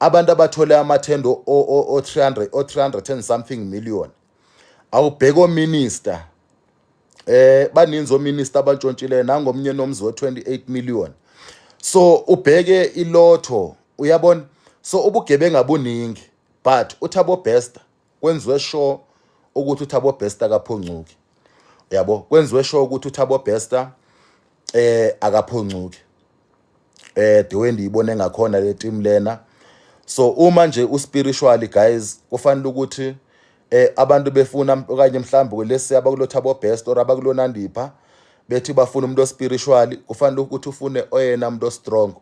abantu abathole amathenda o-300 o-300 and something million awubheke ominister eh baninzi ominister abantshontshileyo nangomnye nomzi wo-28 million so ubheke ilotho uyabona so ubugebengu abuningi but uthabo bester kwenziwe sure ukuthi uThabo Bester akaphoncuki yabo kwenziwe sure ukuthi uThabo Bester eh akaphoncuki eh the way ndiyibone ngakhona le team lena so uma nje uspiritually guys kufanele ukuthi eh abantu befuna okanye mhlawumbe lesi abakuloThabo Best or abakulonandipha bethi bafuna umuntu ospiritual kufanele ukuthi ufune oyena umuntu ostrong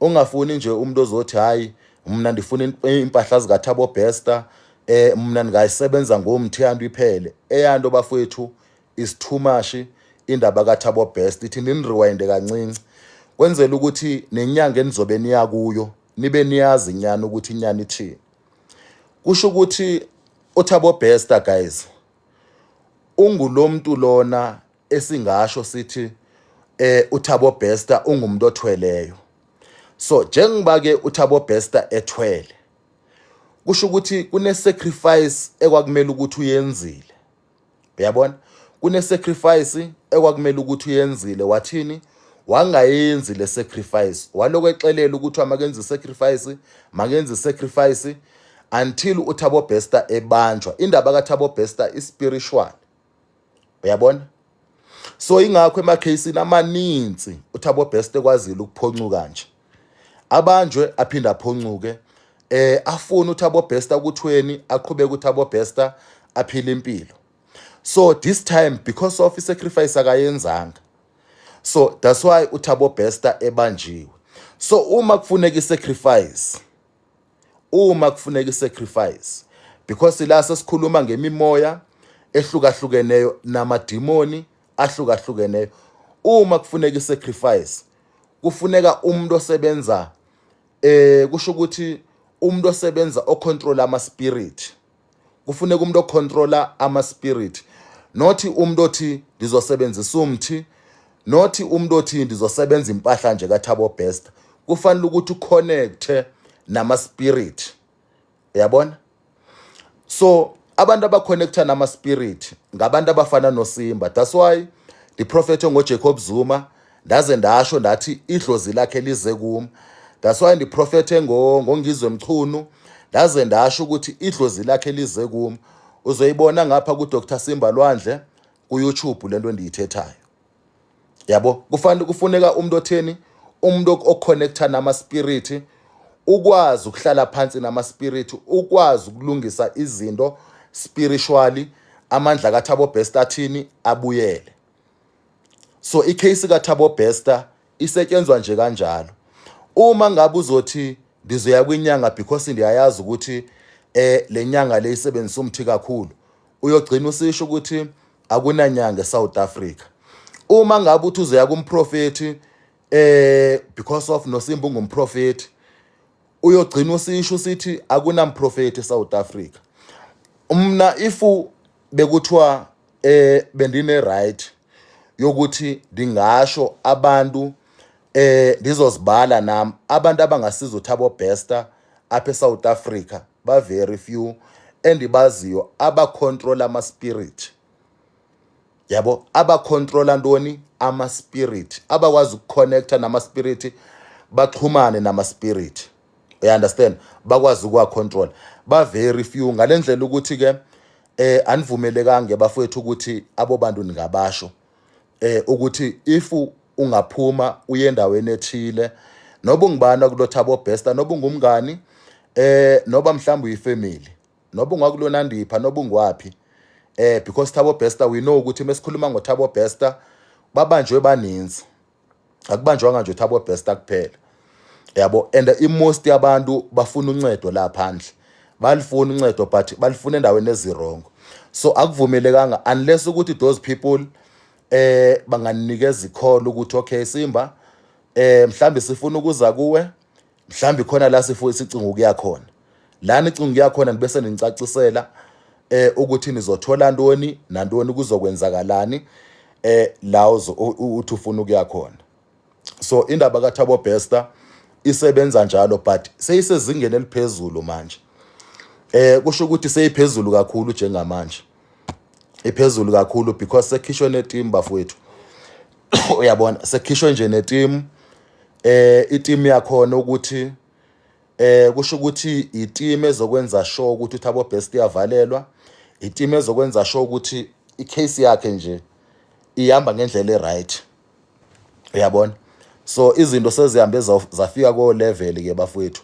ungafuni nje umuntu ozothi hayi mina ndifuna impahla zikathabo bester eh mina ndingayisebenza ngomthiyando iphele eyanto bafowethu is too much indaba kathabo best ithi ninirewind kancinci kwenzela ukuthi nenyanga enizobe niya kuyo nibe niyazi nyana ukuthi inyana ithini kusho ukuthi uthabo bester guys ungulomuntu lona esingasho sithi eh uThabo Bester ungumuntu othweleyo so njengoba ke uThabo Bester ethwele kusho ukuthi kune sacrifice ekwakumele ukuthi uyenzile uyabona kune sacrifice ekwakumele ukuthi uyenzile wathini wangayenzi le sacrifice waloko exelela ukuthi amakenze sacrifice makenze sacrifice until uThabo Bester ebanjwa indaba kaThabo Bester ispiritual uyabona so ingakho emakhasini amaninzi uthabo best ekwazile ukuphoncuka nje abanjwe aphinde aphoncuke eh afuna uthabo best ukuthweni aqhubeke uthabo best aphile impilo so this time because of isacrifice akayenzanga so that's why uthabo best ebanjiwe so uma kufuneka isacrifice uma kufuneka isacrifice because la sesikhuluma ngemimoya ehlukahlukeneyo namadimoni ahlukahlukeneyo uma kufuneka isacrifice kufuneka umuntu osebenza eh kusho ukuthi umuntu osebenza ocontrol ama spirit kufuneka umuntu ocontrola ama spirit not umuntu othi ngizosebenzisa umthi not umuntu othi ndizosebenza impahla nje kathabo best kufanele ukuthi uconnecte nama spirit uyabona so abantu abaconnecta nama spirit ngabantu abafana nosimba that's why the prophet ongojacob zuma ndaze ndasho ndathi idlozi lakhe lize kum that's why ndiprofethe ngongizwe mchunu ndaze ndasho ukuthi idlozi lakhe lize kum uzoyibona ngapha kudr simba lwandle kuyoutube le nto endiyithethayo yabo kufanele kufuneka umuntu otheni umuntu oconnecta namaspiriti ukwazi ukuhlala phansi namaspiriti ukwazi ukulungisa izinto spiritually amandla kathabo best athini abuyele so icase kathabo bester isetshenzwa nje kanjalo uma ngabe uzothi ndizoya kwinyanga because ndiyayazi ukuthi eh lenyanga le isebenzisa umthi kakhulu uyogcina usisho ukuthi akunanyanga eSouth Africa uma ngabe uthi uzoya kumprofeti eh because of nosimba ungumprofeti uyogcina usisho usithi akunamprofeti eSouth Africa umna ifu bekuthiwa eh bendine right yokuthi ndingasho abantu eh ndizozibala nam abantu abangasiza uthabo bester apha eSouth Africa ba very few endibaziyo aba control ama spirit yabo aba control antoni ama spirit abakwazi ukuconnecta nama spirit baxhumane nama spirit you understand bakwazi ukuwa control ba very few ngalendlela ukuthi ke eh anivumelekanga bafowethu ukuthi abo bantu ningabasho eh ukuthi if ungaphuma uye endaweni ethile noba ungibani akulotha abo best noba ungumngani eh noba mhlawumbe uyifamily noba ungakulona ndipha noba ungwaphi eh because Thabo Bester we know ukuthi mesikhuluma ngoThabo Bester babanjwe baninzi akubanjwanga nje uthi abo best kuphela yabo and imost yabantu bafuna uncedo la phandle balifuna uncedo but balifuna endaweni ezirongo so akuvumelekanga unless ukuthi those people eh banganikeza ikholo ukuthi okay simba eh mhlambe sifuna ukuza kuwe mhlawumbe khona la sifuye sicinga ukuya khona la nicinga ukuya khona nibese ninicacisela eh ukuthi nizothola ntoni nantoni kuzokwenzakalani eh la uthi ufuna ukuya khona so indaba kaThabo Bester isebenza njalo but seyisezingeni eliphezulu manje eh kusho ukuthi seyiphezulu kakhulu njengamanje iphezulu kakhulu because sekhishwe neteam bafowethu uyabona sekhishwe nje neteam eh iteam yakhona ukuthi eh kusho ukuthi iteam ezokwenza sure ukuthi uthabo best iyavalelwa iteam ezokwenza sure ukuthi icase yakhe nje ihamba ngendlela eright uyabona so izinto sezihambe zafika ko level ke bafowethu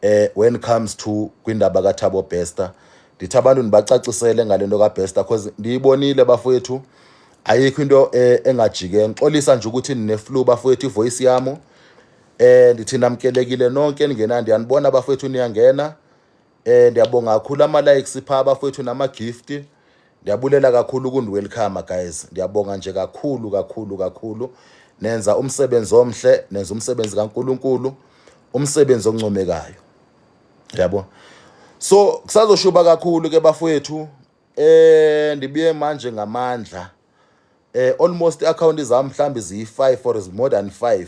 eh when comes to kwindaba ka Thabo Bester ndithi abantu ndibacacisele ngalento ka Bester because ndiyibonile bafowethu ayikho into eh, engajike ngixolisa nje ukuthi nine flu bafowethu ivoice yami eh ndithi namkelekile nonke ningenandi yanibona bafowethu niyangena Eh ndiyabonga kakhulu ama likes pha abafowethu nama gift. Ndiyabulela kakhulu ukundi welcome guys. Ndiyabonga nje kakhulu kakhulu kakhulu. Nenza umsebenzi omhle, nenza umsebenzi kaNkuluNkulu, umsebenzi oncomekayo. Yabo. So kusazoshuba kakhulu ke bafowethu. Eh ndibuye manje ngamandla. Eh almost account zami mhlambi ziyi5 or is more than 5.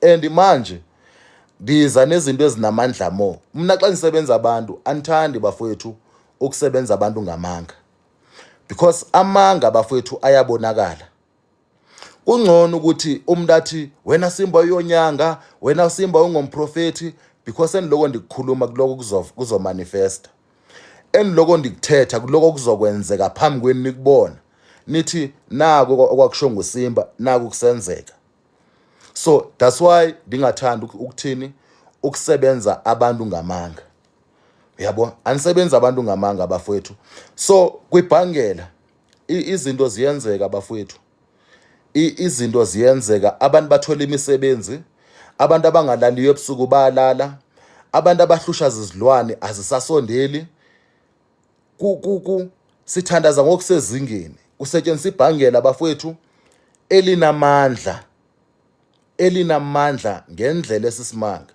and manje ndiza nezinto ezinamandla mo mna xa ndisebenza abantu andithandi bafowethu ukusebenza abantu ngamanga because amanga bafowethu ayabonakala kungcono ukuthi umuntu athi wena simba uyonyanga wena simba ungomprofethi because endiloko ndikukhuluma kuloko kuzomanifesta endiloko ndikuthetha kuloko kuzokwenzeka phambi kwenu nikubona nithi naku okwakusho ngusimba naku kusenzeka so that's why ndingathanda ukuthini ukusebenza abantu ngamanga uyabona anisebenzi abantu ngamanga bafowethu so kwibhangela izinto ziyenzeka bafowethu izinto ziyenzeka abantu bathola imisebenzi abantu abangalaliyo ebusuku bayalala abantu abahlusha zizilwane azisasondeli sithandaza ngokusezingeni kusetshenziswa ibhangela bafowethu elinamandla elinamandla ngendlela esisimanga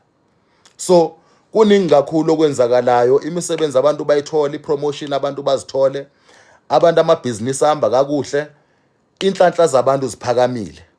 so kuningi kakhulu okwenzakalayo imisebenzi abantu bayithola ipromotion abantu bazithole abantu amabhizinisi ahamba kakuhle inhlanhla zabantu ziphakamile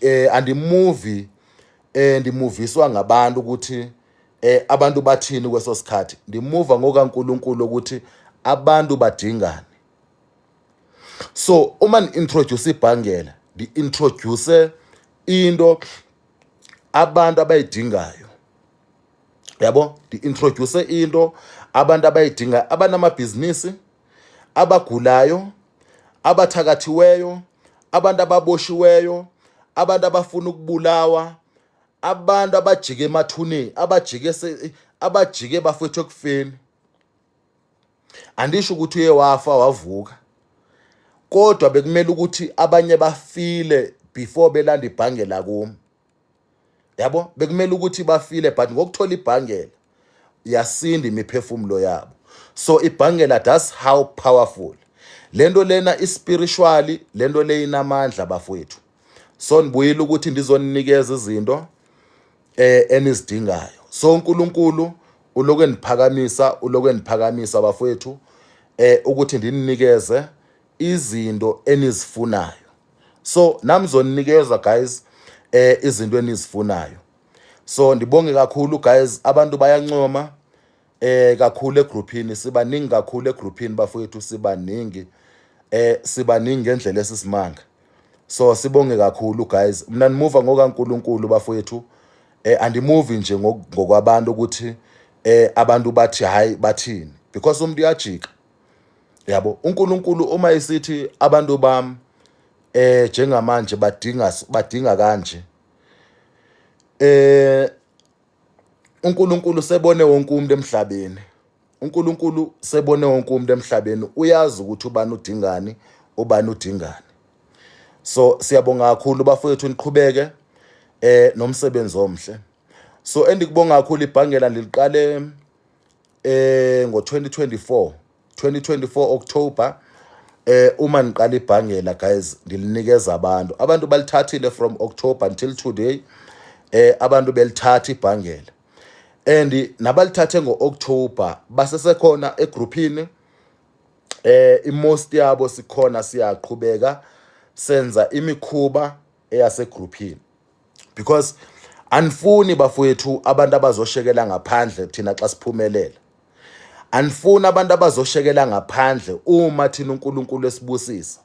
eh andimuvi eh ndimuviswa ngabantu ukuthi eh abantu bathini kweso sikhathi ndimuva ngokaNkuluNkulu ukuthi abantu badingani so uma ni-introduce ibhangela ndi-introduce into abantu abayidingayo yabo ndi-introduce into abantu abayidingayo abanamabhizinisi abagulayo abathakathiweyo abantu ababoshiweyo abantu abafuna ukubulawa abantu abajike emathuneni abajike abajike bafethu ekufeni andisho ukuthi uye wafa wavuka kodwa bekumele ukuthi abanye bafile before belanda ibhange lakumi yabo bekumele ukuthi bafile but ngokuthola ibhangela yasinda imiphefumulo yabo so ibhangela that's how powerful lento lena ispiritually lento le inamandla bafowethu so nibuyile ukuthi ndizoninikeza izinto eh enizidingayo so uNkulunkulu uloku eniphakamisa uloku eniphakamisa bafowethu eh ukuthi ndinikeze izinto enizifunayo so nami zoninikeza guys eh izinto enizifunayo so ndibonge kakhulu guys abantu bayancoma eh kakhulu egrouphini sibaningi kakhulu egrouphini bafowethu sibaningi eh sibaningi ngendlela esisimanga so sibonge kakhulu guys mina ndimuva ngokaNkuluNkulu bafowethu eh andimuvi nje ngokwabantu ukuthi eh abantu bathi hayi bathini because umuntu uyajika yabo uNkulunkulu uma esithi abantu bami eh njengamanje badinga badinga kanje eh uNkulunkulu sebone wonke umuntu emhlabeni uNkulunkulu sebone wonke umuntu emhlabeni uyazi ukuthi ubani udingani ubani udingani so siyabonga kakhulu bafowethu niqhubeke eh nomsebenzi omhle so endikubonga kakhulu ibhangela ndiliqale eh ngo-2024 2024 October eh uma niqala ibhangela guys ngilinikeza abantu abantu balithathile from October until today eh abantu belithatha ibhangela and nabalithathe ngo-October basesekhona egrouphini eh imost yabo sikhona siyaqhubeka senza imikhuba eyasegrouphini because anifuni bafowethu abantu abazoshekela ngaphandle thina xa siphumelela anifuni abantu abazoshekela ngaphandle uma thina uNkulunkulu esibusisa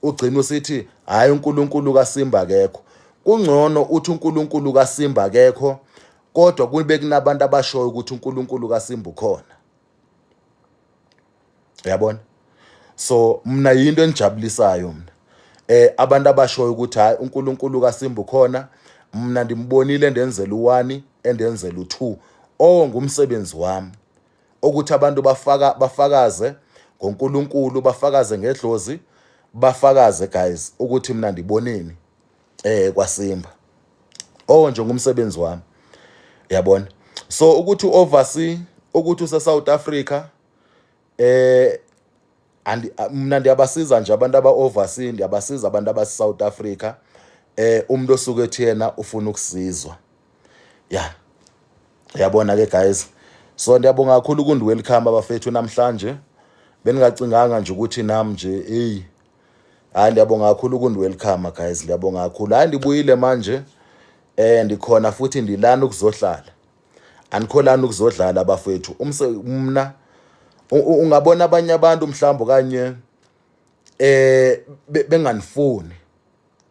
ugcina usithi hayi uNkulunkulu kaSimba akekho kungcono uthi uNkulunkulu kaSimba akekho kodwa kube kunabantu abashoyo ukuthi uNkulunkulu kaSimba ukhona uyabona so mina yinto engijabulisayo mina eh abantu abashoyo ukuthi hayi uNkulunkulu kaSimbu khona mina ndimbonile endenzela u1 endenzela u2 oh ngumsebenzi wami ukuthi abantu bafaka bafakaze ngoNkulunkulu bafakaze ngedlozi bafakaze guys ukuthi mina ndiboneni eh kwasimba oh nje ngumsebenzi wami yabona so ukuthi oversee ukuthi use South Africa eh and mina ndiyabasiza nje abantu aba oversee ndiyabasiza abantu aba South Africa eh umuntu osuke ethi yena ufuna ukusizwa yeah yabona ke guys so ndiyabonga kakhulu kundi welcome abafethu namhlanje beningacinganga nje ukuthi nam nje eyi hayi ndiyabonga kakhulu kundi welcome guys ndiyabonga kakhulu hayi ndibuyile manje eh ndikhona futhi ndilana ukuzohlala anikholani ukuzodlala abafethu umse mna ungabona abanye abantu mhlawumbe kanye eh benganifuni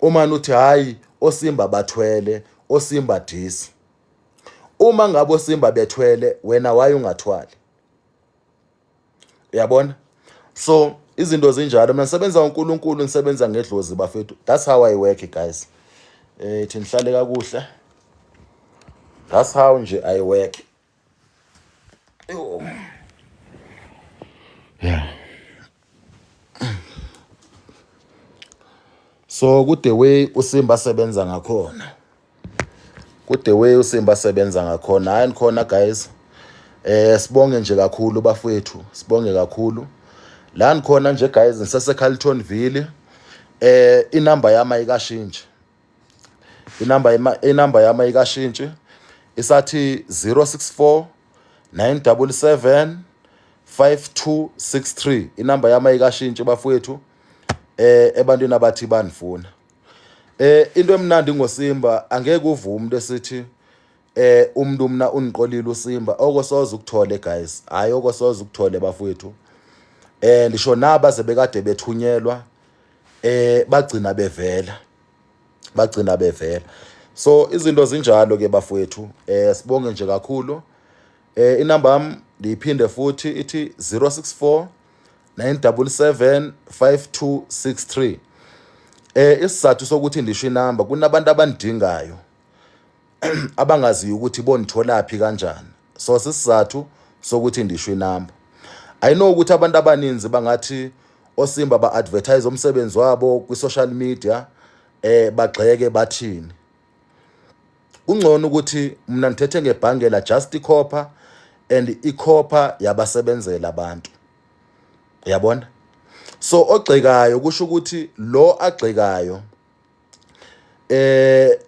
uma nuthi hayi osimba bathwele osimba disi uma ngabe osimba bethwele wena waye ungathwali uyabona so izinto zinjalo mina ngisebenza uNkulunkulu ngisebenza ngedlozi bafethu that's how i work guys eh thi nihlale kakuhle that's how nje i work Yo. Yeah. So ku the way uSimba sebenza ngakhona. Ku the way uSimba sebenza ngakhona. Hayi khona guys. Eh sibonge nje kakhulu bafethu. Sibonge kakhulu. La ngikhona nje guys ngiseseCarltonville. Eh inamba yami ayikashintshi. inamba inamba yami ayikashintshi isathi 064 977 5263 inamba yami ayikashintshi bafowethu eh ebantwini abathi banifuna eh into emnandi ngosimba angeke uvume umuntu esithi eh umuntu mina uniqolile usimba okosoze ukuthole guys hayi okosoze ukuthole bafowethu eh ndisho naba sebekade bethunyelwa eh bagcina bevela bagcina bevela so izinto zinjalo ke bafowethu eh sibonge nje kakhulu eh inamba yami ndiyiphinde futhi ithi 064 977 5263 eh isizathu sokuthi ndisho inamba kunabantu abandingayo abangaziyo ukuthi bonitholaphi kanjani so sisizathu sokuthi ndisho inamba i know ukuthi abantu abaninzi bangathi osimba ba-advertise umsebenzi wabo kwi-social media eh bagxeke bathini kungcono ukuthi mina ngithethe ngebhange la just ikhopha and ikhopha yabasebenzela abantu uyabona so ogxekayo kusho ukuthi lo agxekayo eh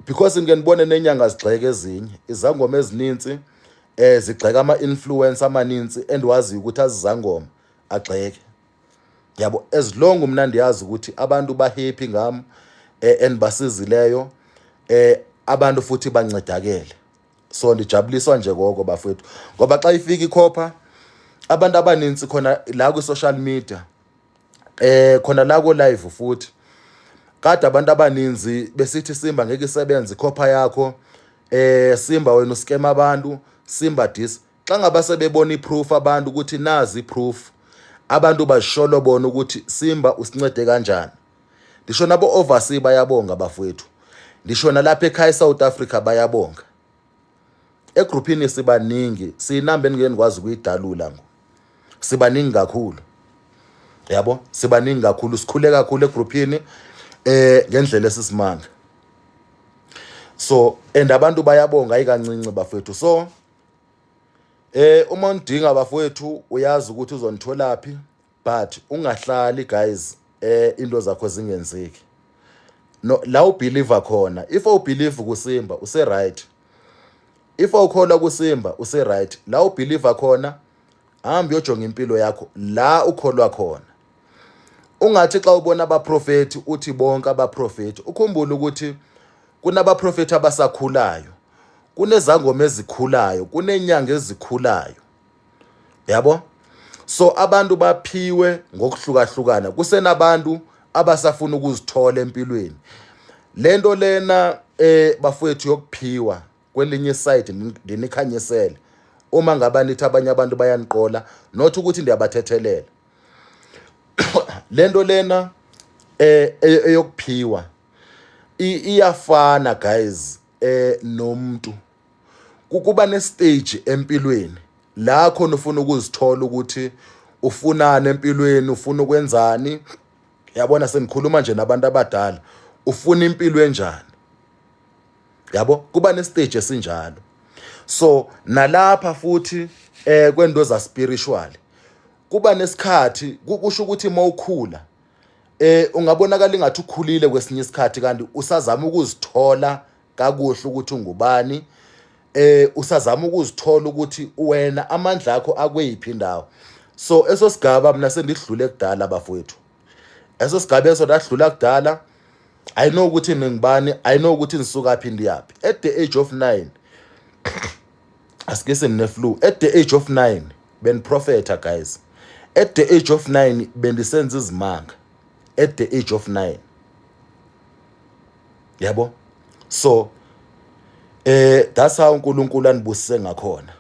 because ngike nibone nenyanga zigxeke ezinye izangoma ezininzi eh zigxeka ama influencer amaninzi endiwaziyo ukuthi azizangoma agxeke yabo as long mina ndiyazi ukuthi abantu ba happy ngam eh endibasizileyo eh abantu futhi bancedakele so ndijabuliswa nje koko bafethu ngoba xa ifika ikhopha abantu abaninzi khona la kwi social media eh khona la ko live futhi kade abantu abaninzi besithi simba ngeke isebenze ikhopha yakho eh simba wena uskema abantu simba dis xa ngaba sebebona iproof abantu ukuthi nazi iproof abantu basholo bona ukuthi simba usincede kanjani ndisho nabo overseas bayabonga bafowethu ndisho nalapha ekhaya eSouth Africa bayabonga egruphini sibaningi siyinamba engeke nikwazi ukuyidalula ngo sibaningi kakhulu yabo sibaningi kakhulu sikhule kakhulu egruphini eh ngendlela esisimanga so and abantu bayabonga ayikancinci bafethu so eh uma undinga bafethu uyazi ukuthi uzonitholaphi but ungahlali guys eh into zakho zingenzeki no la ubeliever khona if u believe kusimba use right if awukholwa kusimba use right la u believe khona hamba uyojonga impilo yakho la ukholwa khona ungathi xa ubona abaprofeti uthi bonke abaprofeti ukhumbule ukuthi kunabaprofeti abasakhulayo kunezangoma ezikhulayo kunenyanga ezikhulayo yabo so abantu baphiwe ngokuhlukahlukana kusenabantu abasafuna ukuzithola empilweni lento lena eh bafowethu yokuphiwa kwelinye side ndinikhanyisele uma ngaba nithi abanye abantu bayaniqola not ukuthi ndiyabathethelela lento lena eh e, eyokuphiwa iyafana guys eh nomuntu kukuba nestage empilweni la khona ufuna ukuzithola ukuthi ufunani empilweni ufuna ukwenzani yabona sengikhuluma nje nabantu abadala ufuna impilo enjani yabo kuba nestage esinjalo so nalapha futhi eh kwento za spiritual kuba nesikhathi kusho ukuthi uma ukhula eh ungabonakala ingathi ukhulile kwesinye isikhathi kanti usazama ukuzithola kakuhle ukuthi ungubani eh usazama ukuzithola ukuthi wena amandla akho akweyiphi indawo so eso sigaba mina sendidlule kudala bafowethu eso sigaba eso dadlula kudala i know ukuthi ningibani i know ukuthi nisuka phi ndiyaphi at the age of 9 asike semne flu at the age of 9 ben prophet guys at the age of 9 bendisenza izimanga at the age of 9 yabo so eh that's how uNkulunkulu anibusise ngakhona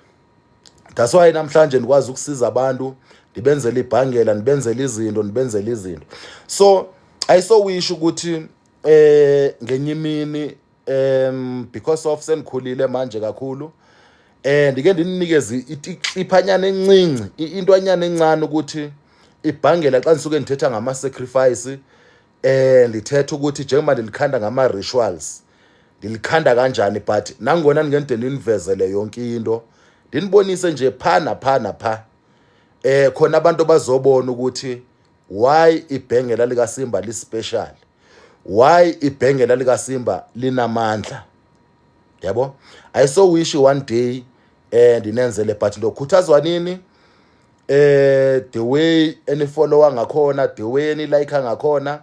that's why namhlanje nikwazi ukusiza abantu ndibenzele ibhangela ndibenzele izinto ndibenzele izinto so i so wish ukuthi eh ngenye imini um because of sengikhulile manje kakhulu eh ndike ndinikeze itiphanyana encinci intwanyana encane ukuthi ibhangela xa nisuke ngithetha ngama sacrifice eh lithetha ukuthi njengoba ndilikhanda ngama rituals ndilikhanda kanjani but nangona ndingende ndinivezele yonke into ndinibonise nje pha napha napha eh khona abantu bazobona ukuthi why ibhengela lika Simba li special why ibhengela lika Simba linamandla yabo i so wish one day eh ndinenzele but ndokhuthazwa nini eh the way any follower ngakhona the way any like ngakhona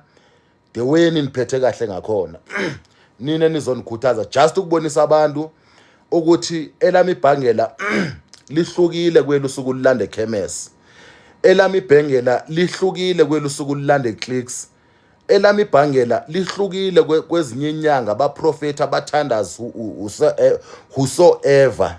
the way niniphethe kahle ngakhona nina nizonikhuthaza just ukubonisa abantu ukuthi elami ibhangela lihlukile kwelusuku lulanda ekhemesi elami ibhengela lihlukile kwelusuku lulanda eclicks elami ibhangela lihlukile kwezinye inyanga abaprofethi abathandazi eh, whosoever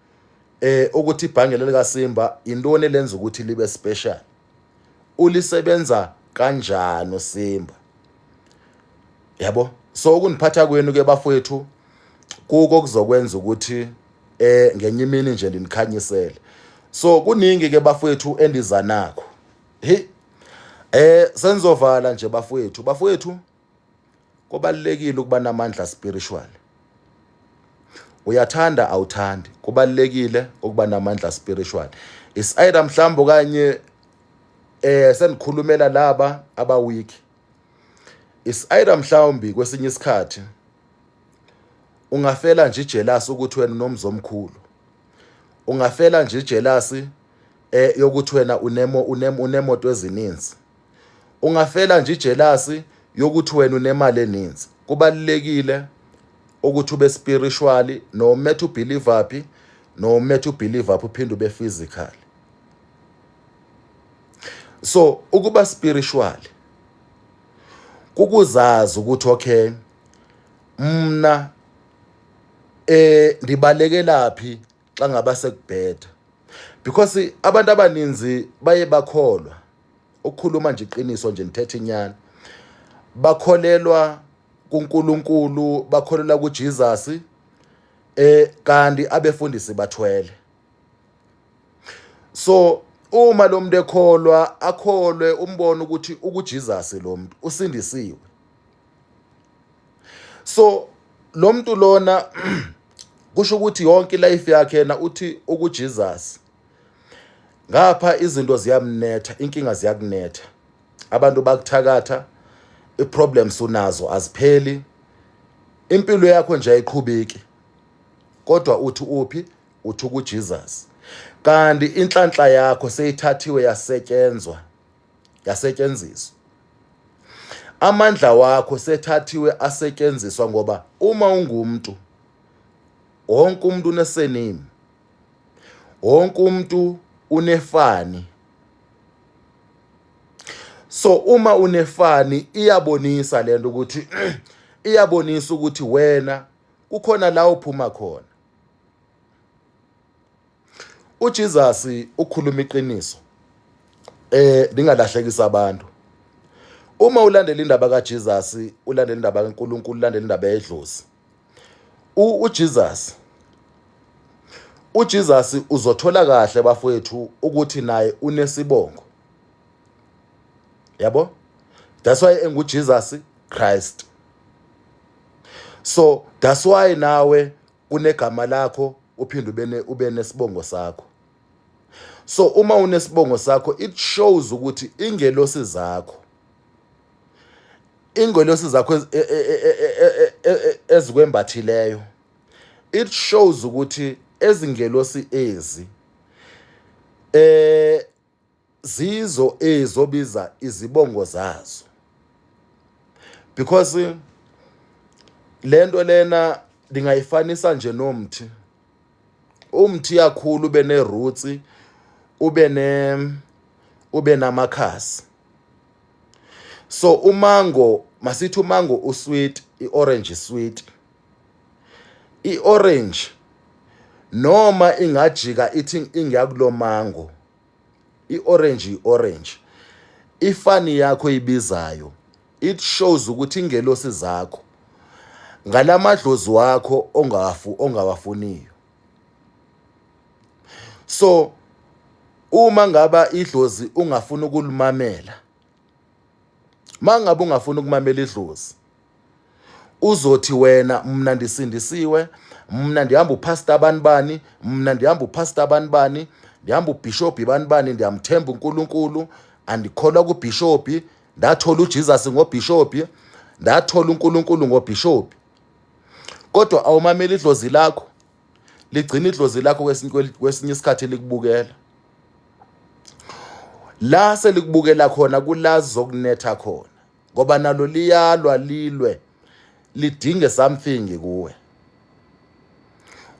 eh ukuthi ibhange lelika Simba intoni lenza ukuthi libe special ulisebenza kanjani uSimba yabo so ukuniphatha kwenu ke bafowethu kuko kuzokwenza ukuthi eh ngenye imini nje ndinikhanyisele so kuningi ke bafowethu endiza nakho hey eh senzovala nje bafowethu bafowethu Kubalekile ukuba namandla spiritual. Uyathanda awuthandi. Kubalekile ukuba namandla spiritual. Is either mhlawumbe okanye eh sendikhulumela laba aba weak. Is either mhlawumbi kwesinye isikhathi ungafela nje jealous ukuthi wena unomzi omkhulu ungafela nje jealous eh yokuthi wena unemo unemoto ezininzi ungafela nje ijelasi yokuthi wena unemali eninzi kubalulekile ukuthi ube spiritually no matter ubelieve phi no matter ubelieve phi uphinde ube physical so ukuba spiritual kukuzazi ukuthi okay mna eh ndibalekelaphi xa ngaba sekubheda because abantu abaninzi baye bakholwa ukukhuluma nje iqiniso nje ngithethe inyani bakholelwa kuNkulunkulu bakholelwa kuJesus eh kanti abefundisi bathwele so uma lo muntu ekholwa akholwe umbona ukuthi ukuJesus lo muntu usindisiwe so lo muntu lona kusho ukuthi yonke life yakhe yena uthi ukuJesus ngapha izinto ziyamnetha inkinga ziyakunetha abantu bakuthakatha iproblems unazo azipheli impilo yakho nje ayiqhubeki kodwa uthi uphi uthi ukuJesus kanti inhlanhla yakho seyithathiwe yasetyenzwa yasetyenziswa amandla wakho sethathiwe asetyenziswa ngoba uma ungumntu wonke umuntu unesenimi wonke umuntu unefani so uma unefani iyabonisa lento ukuthi iyabonisa ukuthi wena kukhona la uphuma khona uJesus ukhuluma iqiniso eh ndingalahlekisa abantu uma ulandela indaba kaJesus ulandela indaba kaNkuluNkulu ulandela indaba yedlozi uJesus uJesus uzothola kahle bafowethu ukuthi naye unesibongo yabo that's why enguJesus Christ so that's why nawe unegama lakho uphinde ube ube nesibongo sakho so uma unesibongo sakho it shows ukuthi ingelosi zakho ingelosi zakho ezikwembathileyo it shows ukuthi ezingelosi ezi eh zizo ezobiza izibongo zazo because lento lena ndingayifanisa nje nomthi umthiya khulu ube ne-roots ube ne ube namakhasi so umango masithi umango usweet i-orange sweet i-orange noma ingajika ithi ingakulo mango i-orange i-orange ifani yakho ibizayo it shows ukuthi ingelosi zakho ngalamadlozi wakho ongawafu ongawafuniyo so uma ngaba idlozi ungafuna ukulumamela mangabe ungafuna ukumamela idlozi uzothi wena mina ndisindisiwe mina ndihamba upastor abantu bani mina ndihamba upastor abantu bani ndihamba ubhishobhi abantu bani ndiyamthemba uNkulunkulu andikholwa kubhishobhi ndathola uJesus ngobishophi ndathola uNkulunkulu ngobishophi kodwa awumameli idlozi lakho ligcina idlozi lakho kwesinye isikhathi likubukela la selikubukela khona kulazi zokunetha khona ngoba nalo liyalwa lilwe lidinge something kuwe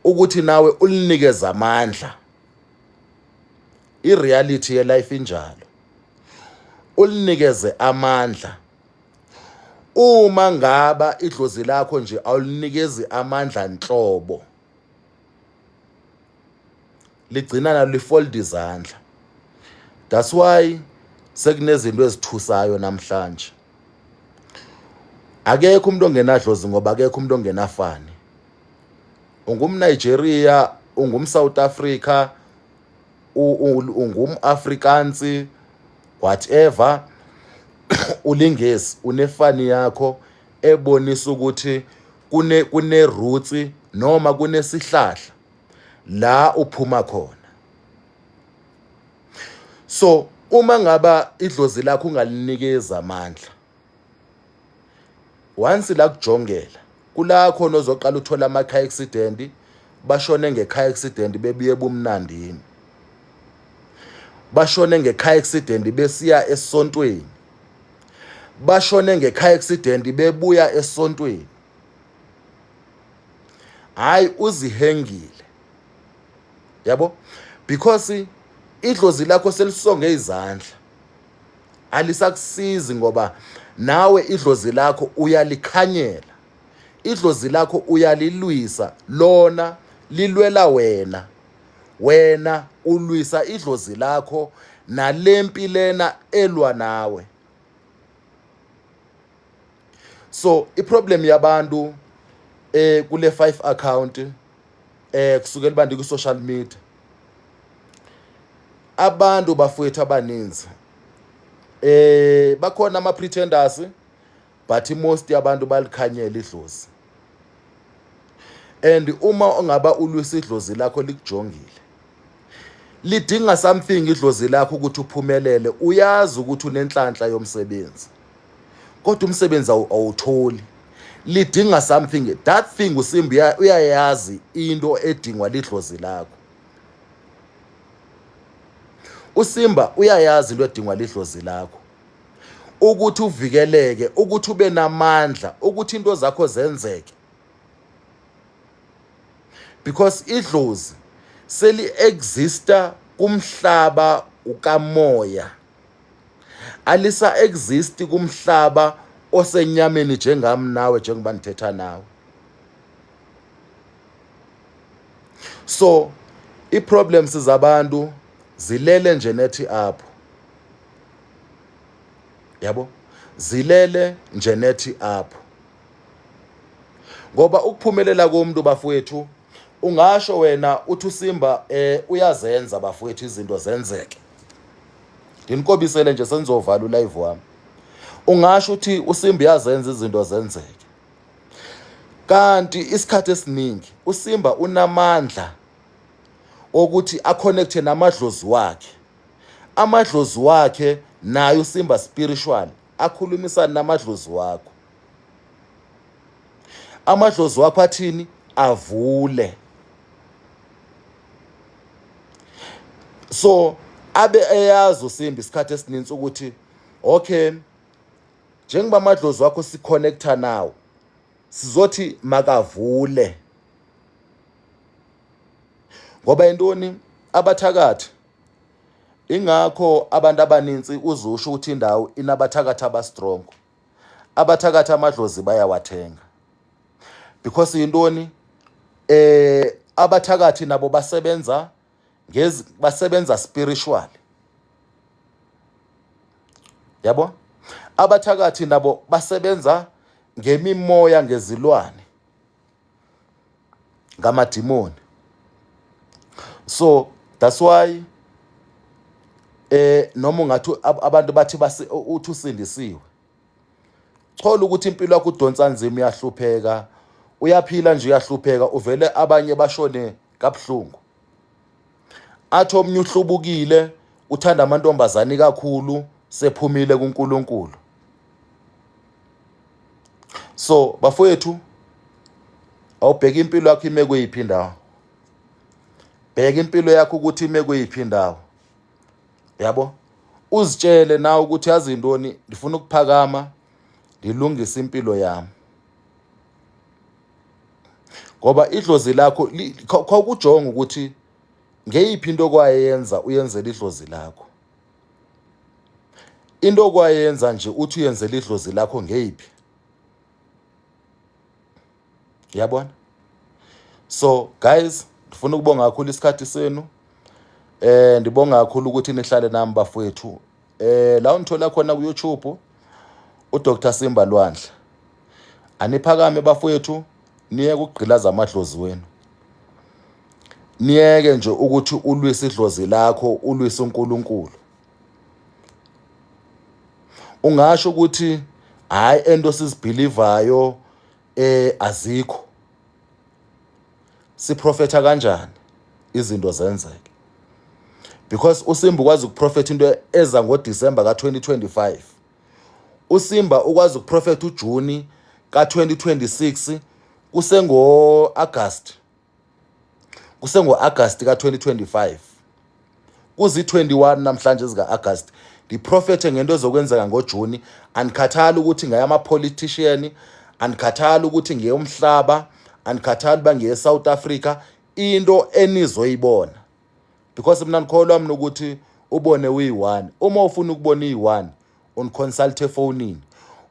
ukuthi nawe ulinikeze amandla I-reality ye-life injalo. Ulinikeze amandla. Uma ngaba idlozi lakho nje awulinikezi amandla nhlobo. Ligcina nalo lifolda izandla. That's why sekunezinto ezithusayo namhlanje. Akekho umuntu ongenadlozi ngoba akekho umuntu ongenafani. UngumNigeria, ungumSouth Africa, ungumafrikansi whatever ulingesi unefani yakho ebonisa ukuthi kune kune roots noma kunesihlahla la uphuma khona so uma ngaba idlozi lakho ungalinikeza amandla once la kujongela kula khona ozoqala uthola ama car accident bashone nge car accident bebuye bumnandini bashone nge car accident besiya esontweni bashone nge car accident bebuya esontweni hayi uzihengile yabo because idlozi lakho selisonge izandla alisakusizi ngoba nawe idlozi lakho uyalikhanyela idlozi lakho uyalilwisa lona lilwela wena wena ulwisa idlozi lakho nalempi lena elwa nawe so iproblem yabantu eh kule 5 account eh kusukela bandi ku social media abantu bafowethu abaninzi eh bakhona ama pretenders but most yabantu balikhanyela idlozi and uma ongaba ulwisa idlozi lakho likujongile lidinga something idlozi lakho ukuthi uphumelele uyazi ukuthi unenhlanhla yomsebenzi kodwa umsebenzi awutholi lidinga something that thing usimbi uyayazi into edingwa lidlozi lakho usimba uyayazi into edingwa lidlozi lakho ukuthi uvikeleke ukuthi ube namandla ukuthi into zakho zenzeke because idlozi seli-exista kumhlaba ukamoya alisa exist kumhlaba osenyameni njengami nawe njengoba nithetha nawe so iproblems zabantu zilele nje nethi apho yabo zilele nje nethi apho ngoba ukuphumelela komuntu bafowethu ungasho wena uthi usimba eh uyazenza bafowethu izinto zenzeke nginikobisele nje senizovala ulive wami ungasho ukuthi usimba uyazenza izinto zenzeke kanti isikhathi esiningi usimba unamandla okuthi aconnecte namadlozi wakhe amadlozi wakhe naye usimba spiritual akhulumisane namadlozi wakho amadlozi wakho athini avule so abe eyazi usimbi isikhathi esininzi ukuthi okay njengoba amadlozi wakho siconnecta nawo sizothi makavule ngoba intoni abathakathi ingakho abantu abaninzi uzusho ukuthi indawo inabathakathi abastrongo abathakathi amadlozi bayawathenga because yintoni eh abathakathi nabo basebenza ngezi basebenza spiritual yabo abathakathi nabo basebenza ngemimoya ngezilwane ngamadimoni so that's why eh noma ungathi abantu bathi uthi usindisiwe thola ukuthi impilo yakho udonsa nzima uyahlupheka uyaphila nje uyahlupheka uvele abanye bashone kabuhlungu athi omnye uhlubukile uthanda amantombazane kakhulu sephumile kuNkulunkulu so bafowethu awubheka impilo yakho ime kuyiphi indawo bheka impilo yakho ukuthi ime kuyiphi indawo yabo uzitshele nawe ukuthi yazi intoni ndifuna ukuphakama ndilungise impilo yami ngoba idlozi lakho khawukujonga ukuthi ngeyiphi into okwayenza uyenzela idlozi lakho into okwayenza nje uthi uyenzela idlozi lakho ngeyiphi yabona so guys ndifuna ukubonga kakhulu isikhathi senu eh ndibonga kakhulu ukuthi nihlale nami bafowethu eh la ungithola khona ku YouTube uDr Simba Lwandle aniphakame bafowethu niye kugqilaza amadlozi wenu niyeke nje ukuthi ulwise idlozi lakho ulwise uNkulunkulu ungasho ukuthi hayi ento sizibhilivayo eh azikho siprofetha kanjani izinto zenzeke because usimba ukwazi ukuprofetha into eza ngodisemba ka-2025 usimba ukwazi ukuprofetha ujuni ka-2026 kusengo-agasti kusengo-agasti ka-2025 kuzi-21 namhlanje zika-agast ndiprofethe ngento ezokwenzeka ngojuni andikhathali ukuthi ngayamapolitishiyani andikhathali ukuthi ngeyomhlaba andikhathali uba ngeye-south africa into enizoyibona because mna ndikholwa mna ukuthi ubone uyi-one uma ufuna ukubona iyi-one uniconsulte efonini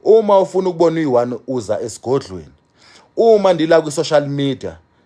uma ufuna ukubona uyi-one uza esigodlweni uma ndila kwi-social media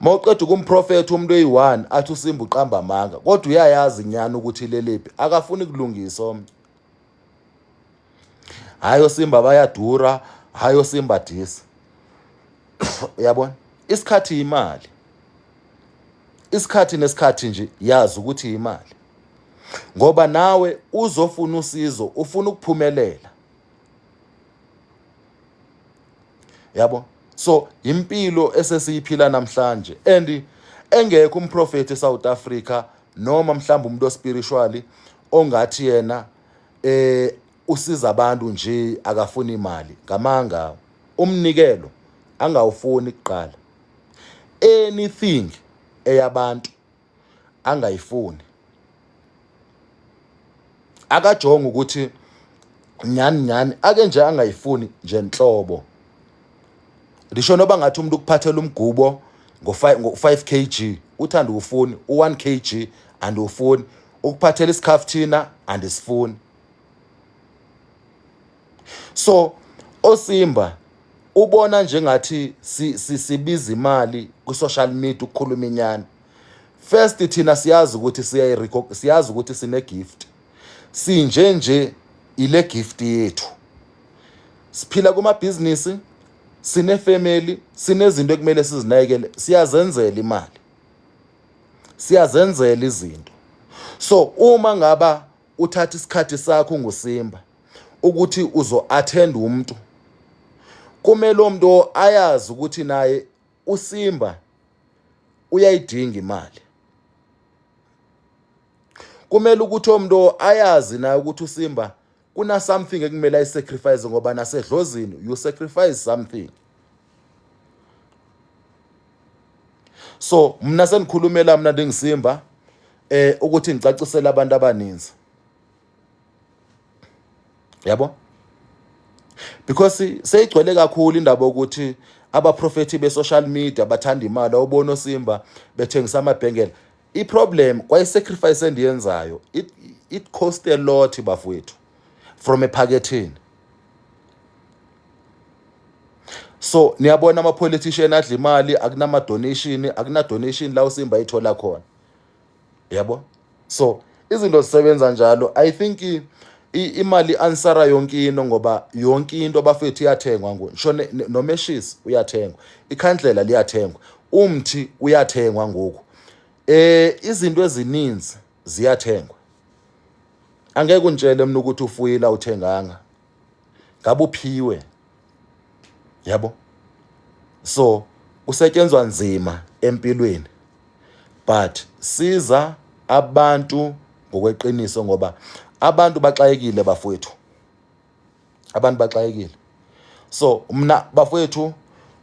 mawuqeda ukumprofetha umuntu oyi-one athi usimba uqamba amanga kodwa uyayazi nyani ukuthi ilelephi akafuni kulungisa omnye hhayi osimba bayadura hhayi osimba disa uyabona isikhathi yimali isikhathi nesikhathi nje yazi ukuthi yimali ngoba nawe uzofuna usizo ufuna ukuphumelela yabo so impilo esesiyiphila namhlanje and engekho umprofethi eSouth Africa noma mhlawumbe umuntu ospiritually ongathi yena eh usiza abantu nje akafuni imali ngamanga umnikelo angawufuni kuqala anything eyabantu angayifuni akajonga ukuthi nyani nyani ake nje angayifuni nje nhlobo lisho noba ngathi umuntu ukuphathela umgubo ngo-5 kg uthanda uwufuni u-1 kg andiwufuni ukuphathela isikhafuthina andisifuni so osimba ubona njengathi sibiza imali kwi-social media ukukhuluma inyani first thina siyazi ukuthi siyazi ukuthi sine-gift sinje nje ile gift yethu siphila kumabhizinisi sinefamily sinezinto ekumele sizinakekele siyazenzela imali siyazenzela izinto so uma ngaba uthatha isikhathi sakho ngusimba ukuthi uzo-attend umuntu kumele umuntu ayazi ukuthi naye usimba uyayidinga imali kumele ukuthi omuntu ayazi naye ukuthi usimba kuna something ekumele ayisacrifice ngoba nasedlozini you sacrifice something so mna sendikhulumela mna ndingisimba eh ukuthi ngicacisele abantu abaninzi yabo because seyigcwele kakhulu indaba ukuthi abaprofethi be-social media bathanda imali awubona osimba bethengisa amabhengela i-problem kwayi-sacrifice endiyenzayo it, it cost a lot bafowethu from ephakethini so niyabona ama-politician adla imali akunama-donation akunadonation la usimba ayithola khona yabo so izinto zisebenza njalo i think imali ansara yonke into ngoba yonke into abafethu iyathengwa ngoku ngisho nomeshisi uyathengwa ikhandlela liyathengwa umthi uyathengwa ngoku eh izinto ezininzi ziyathengwa angeke untshele mina ukuthi ufuyile awuthenganga ngabe uphiwe yabo so usetshenzwa nzima empilweni but siza abantu ngokweqiniso ngoba abantu baxakekile bafowethu abantu baxakekile so mna bafowethu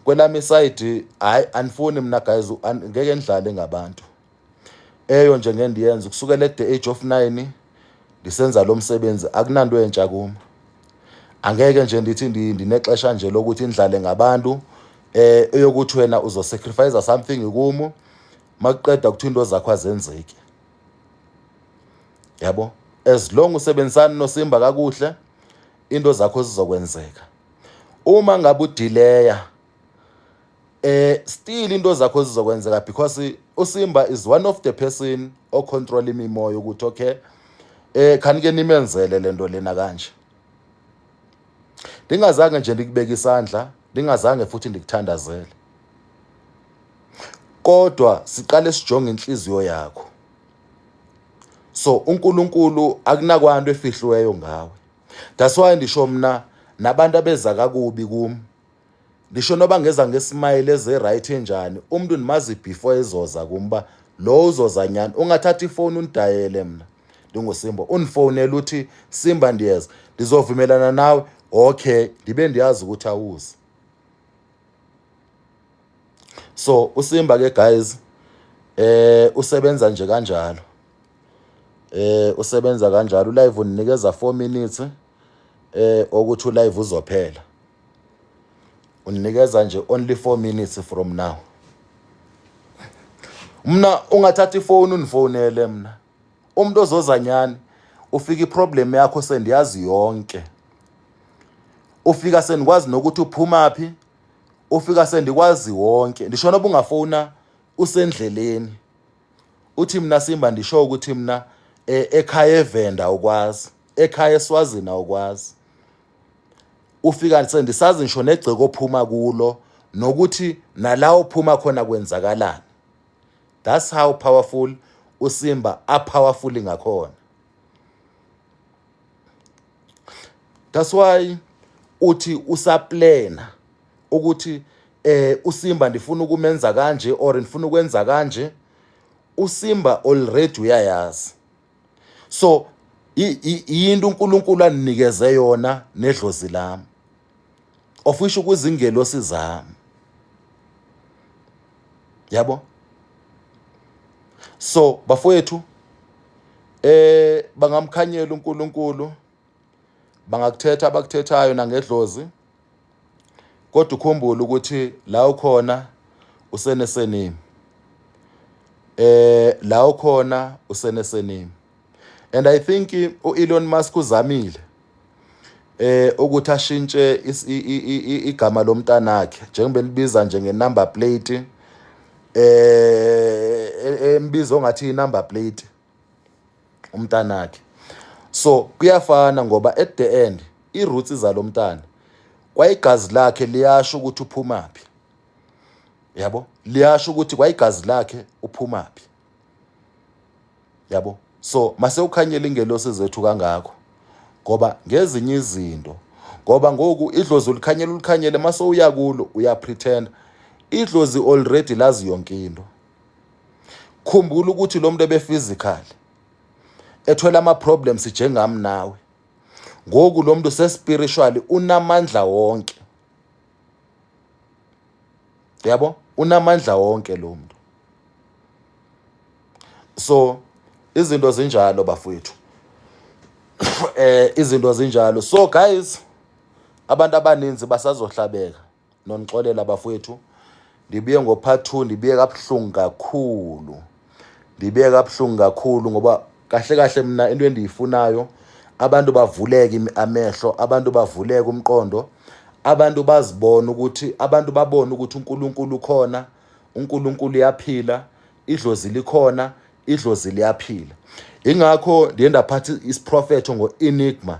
kwelami side hayi anifuni mna guys ngeke nidlale ngabantu eyo nje ngeke ndiyenze kusukela at the age of 9 ndisenza lo msebenzi akunanto entsha kuma angeke nje ndithi ndinexesha nje lokuthi indlale ngabantu eh eyokuthi wena uzosacrifice something kumu makuqeda ukuthi into zakho azenzeki yabo as long usebenzisana nosimba kakuhle into zakho zizokwenzeka uma ngabe udileya eh still into zakho zizokwenzeka because uSimba is one of the person o control imimoya ukuthi okay eh khani ke nimenzele lento lena kanje ndingazange nje ndikubeka isandla ndingazange futhi ndikuthandazele kodwa siqale sijonge inhliziyo yakho so uNkulunkulu akunakwanto efihliweyo ngawe that's why ndisho mina nabantu abeza kakubi kimi ngisho noba ngeza ngesimayile eze-right enjani umuntu ndimazi before ezoza kum uba lo uzoza nyani ungathatha ifowuni undidayele mna ndingusimba undifowunele uthi simba ndiyeza ndizovumelana nawe okay ndibe ndiyazi ukuthi awuzi so usimba ke guys eh usebenza nje kanjalo eh usebenza kanjalo live uninikeza 4 minutes eh okuthi ulive uzophela uninikeza nje only 4 minutes from now mina ungathatha ifoni unifonele mina umuntu ozoza nyani ufika iproblem yakho sendiyazi yonke ufika sendikwazi nokuthi uphuma phi ufika sendikwazi wonke ndisho noba ungafona usendleleni uthi mina simba ndisho ukuthi mina eh, ekhaya evenda ukwazi ekhaya eswazini awukwazi ufika sendisazi ngisho negceke ophuma kulo nokuthi nala ophuma khona kwenzakalani that's how powerful usimba a powerful ngakhona that's why uthi usaplena ukuthi eh usimba ndifuna ukumenza kanje or ndifuna ukwenza kanje usimba already uyayazi so yinto uNkulunkulu aninikeze yona nedlozi lami of which ukuzingelosi zami yabo so bafowethu eh bangamkhanyela uNkulunkulu bangakuthetha abakuthethayo nangedlozi kodwa ukhumbule ukuthi la ukhona usenesenimi eh la ukhona usenesenimi and i think uElon Musk uzamile eh ukuthi ashintshe igama lomntanakhe njengoba libiza nje ngenumber plate eh e, e, embiza ongathi inumber plate umntanakhe so kuyafana ngoba at the end i-roots zalo mntana kwayigazi lakhe liyasho ukuthi uphumaphi yabo liyasho ukuthi kwayigazi lakhe uphumaphi yabo so mase ukhanyela ingelosi zethu kangakho ngoba ngezinye izinto ngoba ngoku idlozi ulikhanyela ulikhanyele mase uya kulo uyapretenda idlozi already lazi yonke into khumbula ukuthi lo muntu ebephysical ethola ama-problems njengami nawe ngoku lo muntu sespiritually unamandla wonke yabo unamandla wonke lo muntu so izinto zinjalo bafowethu eh izinto zinjalo so guys abantu abaninzi basazohlabeka nonixolela bafowethu ndibuye ngo-part two ndibuye kabuhlungu kakhulu ndibuye kabuhlungu kakhulu ngoba kahle kahle mna into endiyifunayo abantu bavuleke amehlo abantu bavuleke umqondo abantu bazibone ukuthi abantu babone ukuthi uNkulunkulu ukhona uNkulunkulu uyaphila idlozi likhona idlozi liyaphila ingakho ndiye ndaphatha isiprofetho ngo-enigma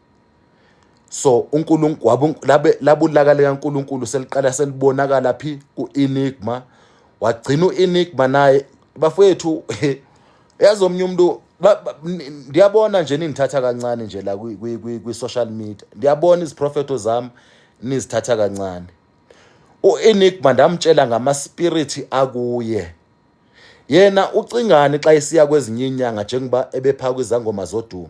so uNkulunkulu labulaka likaNkulunkulu seliqala selibonakala phi kuEnigma wagcina uEnigma naye bafowethu yazi omunye umuntu ndiyabona nje nindithatha kancane nje la kwi-social media ndiyabona iziprofetho zami nizithatha kancane u-enigma ndamtshela ngamaspiriti akuye yena ucingani xa isiya kwezinye inyanga njengoba ebepha kwizangoma zodumo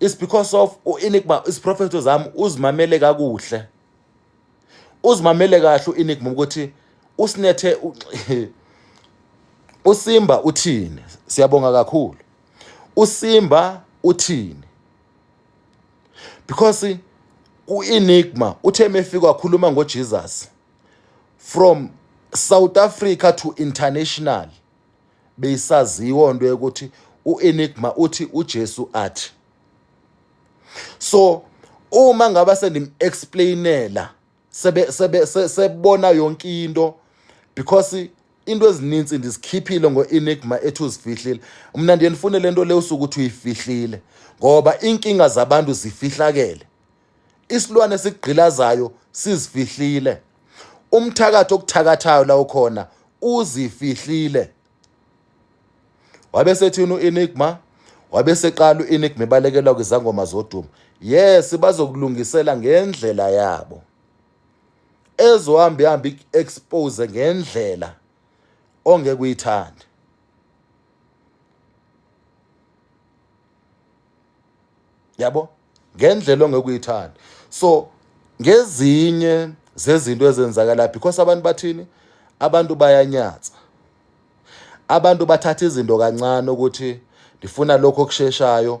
is because of uenigma isiprofetho zami uzimamele kakuhle uzimamele kahle uenigma ukuthi usinethe usimba uthini siyabonga kakhulu usimba uthini because uenigma uthe mefika wakhuluma ngojesus from south africa to international beyisaziwa into yokuthi uenigma uthi ujesu athi so uma ngaba sendim-explainela sebona sebe, sebe, sebe yonke into because into ezininzi ndizikhiphile ngo-enigma ethi uzifihlile mna ndiye ndifune le nto le usuke uthi uyifihlile ngoba iinkinga zabantu zifihlakele isilwane esigqilazayo sizifihlile umthakathi okuthakathayo la ukhona uzifihlile wabe sethini u-enigma wabe seqala u-enigma ebalekelwa kwizangoma zodumo yes bazokulungisela ngendlela yabo ezohambe ihambe i-expose ngendlela ongeke uyithande yabo ngendlela ongekuyithanda so ngezinye zezinto ezenzakala because abantu bathini abantu bayanyatsa abantu bathatha izinto kancane ukuthi ndifuna lokho okusheshayo